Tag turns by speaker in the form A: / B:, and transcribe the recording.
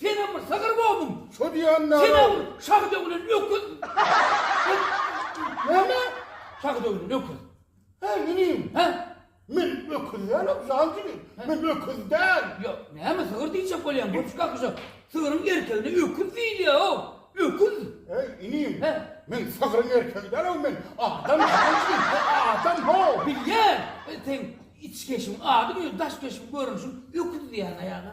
A: Senem bir sygyr boldum. Şo diýýän nä Sene
B: bir şahy döwlen
A: öküz. Näme?
B: Şahy döwlen
A: öküz. Hä inim.
B: Hä? Men
A: öküz
B: dälem jan diýdim. Men öküz däl. Ýa näme sygyr
A: diýjek bolýaň goç kakyja. Sygryň erkegine öküz diýilýär-ow. Öküz. Heý inim.
B: Hä? Men sygryň erkegi däl-ow men adam jan diýdim. Adam how. Bilýän. Seň
A: içkeşiň adyň özi daş keşiň görnüşiň öküz diýýän aýaga.